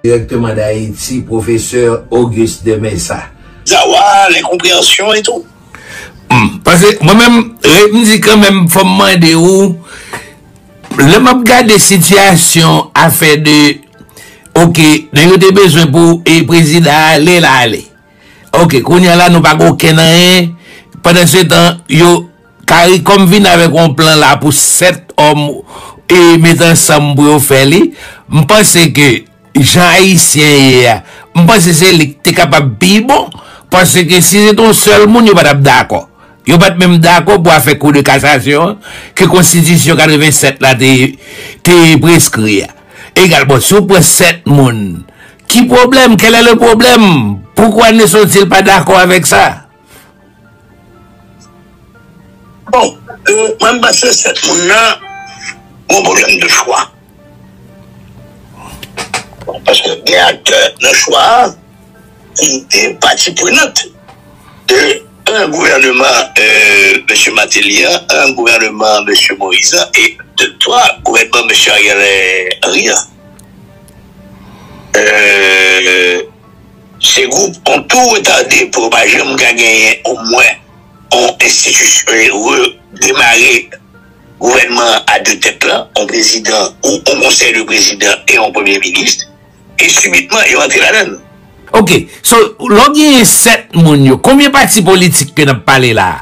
Directement d'Haïti, professeur Auguste de Mesa. Zawa, l'incomprehension et tout. Humm, pase mwen menm, m di kanmenm fò m mande ou, lè m ap gade sitiyasyon afè de, ok, nèg yo te bezwen pou prezidan an ale, l ale, ok, kounye a la nou pa gen okenn anyen, pandansetan yo. Caricom vin avèk yon plan la pou 7 òm e met ansanm pou yo fè li. M panse ke jan Ayisyen ye a, m panse se li ki te kapab pi bon. Pase ke si se te yon sèl moun, yo pa t ap dakò. Yo pa t menm dakò pou afè kou de kasasyon an ke konstitisyon 87 la te preskri a. Egal, bon, si w pran 7 moun, ki pwoblèm? Kèlè le pwoblèm? Poukwa Nesson Thil pa dakò avèk sa? Bon euh mwen m bat resèt moun nan mwen problèm de chwa paske gen aktè nan chwa a ki te pati prenant de 1 gouvèneman mesye Martelly an, 1 gouvèneman mesye Moïse an e de 3 gouvèneman mesye Ariel Henry an euh. Se gwoup on tou retade pou yo pa janm ka genyen omwen on enstitisyon e redemare gouvènman an a de tèt lan, on prezidan ou on konsèy de prezidan e on premye minis, e sibitman yo antre ladan l. Ok, so lè w genyen 7 moun yo, konbyen pati politik ke n ap pale la a?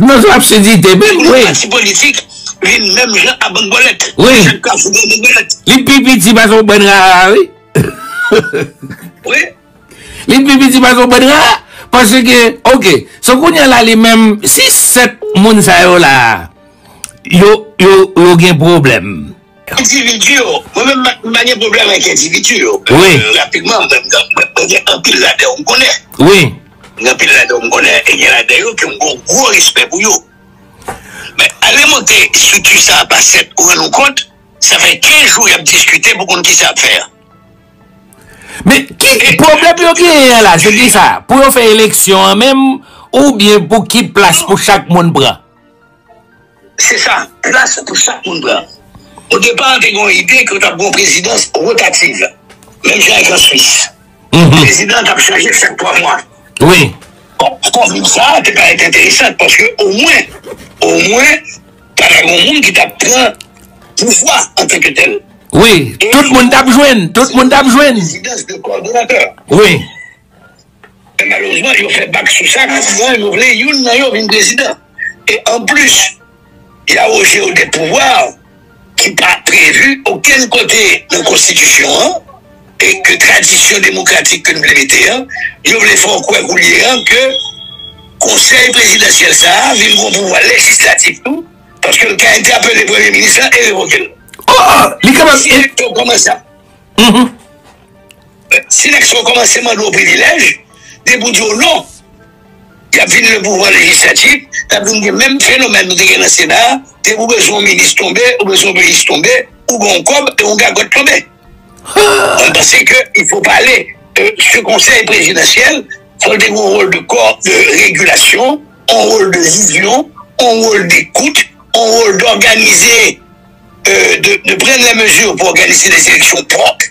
Non se absidite men wi. Yon pati politik vin menm jan a bann bòlèt. Wi. Chak kafou gen yon bann bòlèt. Li pi piti pase yon bann rara wi. Wi. Li pi piti pase yon bann rara. Pase ke ok. So kounye la li menm si 7 moun sa yo la yo gen pwoblèm. Endividi yo, mwen menm m pa gen pwoblèm ak endividi yo, rapidman mwen gen anpil ladan yo m konnen, gen anpil ladan yo m konnen e gen ladan yo ke m gen yon gwo respè pou yo men ale monte estrikti sa a pa 7 ou rann ou kont sa fè 15 jou y ap diskite pou konn kisa y ap fè an. Men ki pwoblèm yo genyen an la se kisa pou yo fè eleksyon an menm oubyen pou ki plas pou chak moun pran? Se sa, plas pou chak moun pran. Odepa, te gen yon ide ke t ap gen yon prezidans wotativ, menm jan ak an Swis. Prezidan an t ap chanje chak twa mwa. Bon, konbit sa a te parèt enteresan paske omwen, omwen, ta gen yon moun ki t ap pran pouvwa antanketèl. Wi, tout moun t ap jwenn, tout moun t ap jwenn. Prezidans de kòdonatè. Wi. Men malerezman yo fè bak sou sa kòmkwa yo vle youn nan yo vin prezidan. E anplis, y awoje yo de pouvwa ki pa previ okenn kote nan konstitisyon an e ke tradisyon demokratik ke n vle mete an, yo vle fè w kwè koulye a ke konsèy prezidansyèl sa a vin gon pouvwa lejislatif tou paske l ka entèpele premye minis lan e revoke l. Ò! Li kapab. Direkto kòman sa? Mh. Silex yo komanse mande w privilèj, depi w di yo non, y ap vin nan pouvwa lejislatif, y ap vin gen menm fenomèn nou te gen nan sena a, depi w bezwen yon minis tonbe, ou bezwen yon minis tonbe, ou gen yon kòb e yon gagòt tonbe. Mwen panse ke il fo pale de se konsèy prezidansyèl, fò l te gen yon wòl de kò de regilasyon, yon wòl de vizyon, yon wòl dekout, yon wòl dòganize, de pran lè mezi pou òganize de seleksyon pwòp.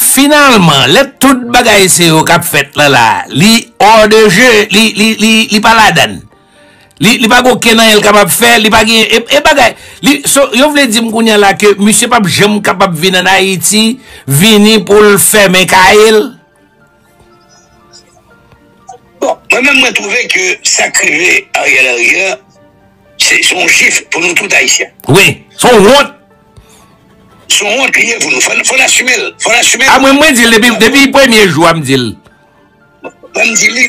Finalman, lè tout bagay se yo kap fèt lan la, li hors de jeu, li, li, li, li pa ladann. Li, li pa gen okenn anyen li kapab fè, li pa gen, e, e bagay, li, so, yo vle di m kounye a la ke misye pap janm kapab vin an Ayiti, vini pou l fèmen kay l? Bon, mwen menm mwen trouve ke sa k rive Ariel Henry a, se se yon jif pou nou tout Ayisyen. Wi, se yon wont. Se yon wont li ye pou nou. Fò n asime l. Fò n asime l. A mwen mwen di l depi depi premye jou a m di l. Mwen m di li,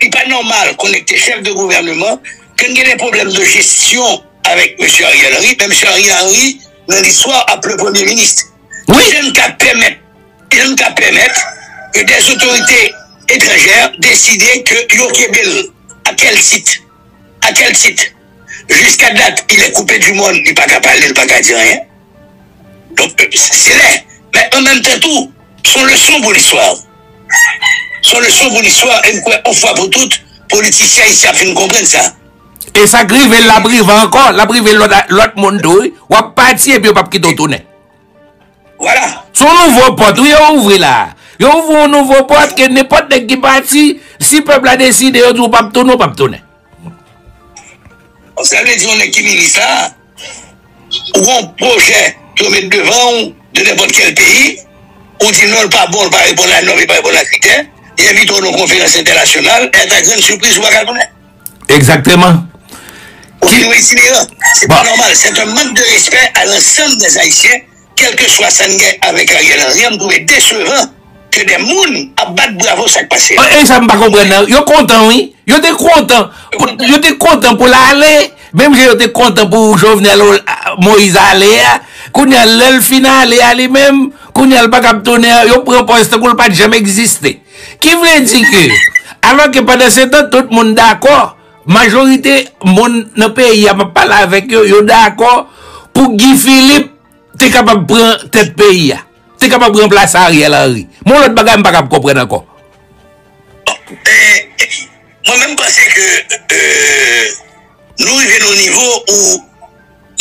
li pa nòmal kon nèk te chèf de gouvèneman, ke n gen de pwoblèm de jesyon avèk mesye Ariel Henry, men mesye Ariel Henry nan listwa ap le premye minis. Wi. Kijan n ka pèmèt. e l ka pèmèt ke dè zotorite etranjè deside ke yo kenbe l. A kèl tit? A kèl tit? Jiska dat il est coupé du monde, li pa ka pale, li pa ka di anyen. Donk, se lè, men an menm tan tou, s on leson pou listwa. S on leson pou listwa e m kwè on fwa pou tout, politisyen ayisyen ap fin konprann sa. E sa k rive l la ap rive ankò, l ap rive lòt moun tou wi. W ap pati epi yo p ap kite w tounen. Wala! Se yon nouvo pòt wi yo ouvri la. Yo ouvri yon nouvo pòt ke nenpòt nèg ki pati, si pèp la deside yo di ou pap tounen, ou pap tounen. Donk sa vle di yon nèg ki minis la, ou gen yon pwojè ke yo met devan ou de nenpòt kèl peyi, ou di non li pa bon, li pa reponn a nòm, li pa reponn a kritè, yo envite w nan yon konferans entènasyonal, e ata grenn sipriz ou pa ka tounen. Exactement. Ki yon itineran. Se pa normal. C'est un manque de respect à l'ensemble des Haïtiens quelque soit sa n gen avèk Ariel Henry an m trouve decevant que des moun ap bat bravo sa k pase a. Esa m pa konprann nan yo kontan wi yo te kontan yo te kontan pou l ale menm jan yo te kontan pou Jovenel Moïse ale a kounye a lè l fin ale a li menm kounye a l pa kab tounen yo pran pòz tankou l pat janm egziste. Ki vle di ke, alò ke pandan se tan tout moun dakò, majorite moun nan peyi a m ap pale avèk yo, yo dakò pou Guy Philippe te kapab pran tèt peyi a, te kapab ranplase Ariel Henry. Men yon lòt bagay m pa kab konprann ankò. Mwen menm m panse ke nou rive nan yon nivo ou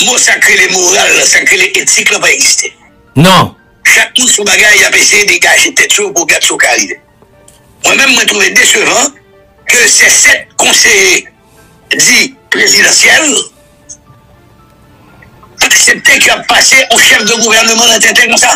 mo sa k rele moral la, sa k rele etik la pa egziste. Non. Chak moun son bagay yap eseye degaje tèt yo pou gad soka rive. Mwen menm mwen trouve desevan ke se 7 konseye di prezidansyèl pa aksepte ke yap pase on chèf de gouvèneman nan tenten konsa.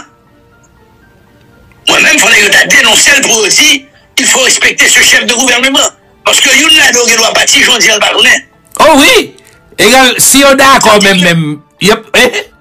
Mwen menm fòk nèg yo ta denonsel pou yo di il faut respecter ce chef de gouvernement paske youn ladan yo gendwa pati jondi an pa konnen. Oh wi! Egal si yo dakò menm menm yop eh!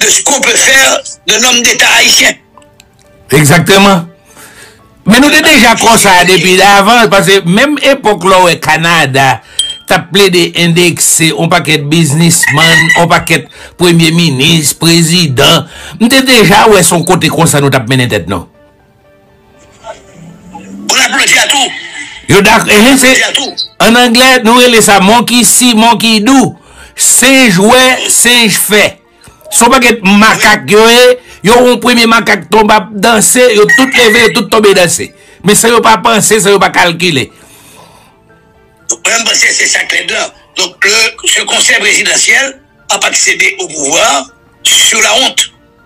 de ce qu'on peut faire d'un homme d'Etat Haïtien. Exactement. Men nou te deja konsa depi davan, pase menm epok lò wè Kanada tap ple de endekse on paket biznisman, on paket premye minis, prezidan, nou te deja wè son kote konsa nou tap mennen tèt nou. Moun ap blodi a tou. Yo dak ehe se an anglè nou rele sa monkey see monkey do senj wè senj fè son pakèt makak yo ye yo wè yon premye makak tonbe ap danse yo tout leve yo tout tonbe danse men san yo pa panse san yo pa kalkile Mwen panse se sa k lèd lan donk lè se konsèy prezidansyèl ap aksede o pouvwa sou lawont.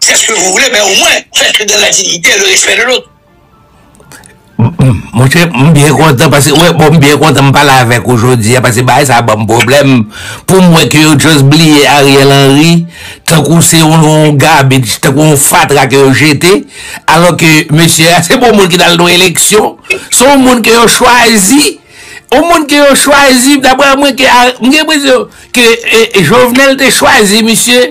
C'est ce que vous voulez, mais au moins, faites-le dans la dignité et le respect de l'autre. Mwen chè, mwen byen kontan, pase, wè, bon, mwen byen kontan mwen pale avèk ou jodi, pase ba e sa ba mwen problem, pou mwen ke yo just bliye Ariel Henry, tankou se yon garbage, tankou yon fatra ke yo jete, alò ke mesye a, se bon moun ki dal do eleksyon, se yon moun ke yo chwazi, yon moun ke yo chwazi, dapre mwen ke, mwen gen presyon, ke Jovenel te chwazi misye,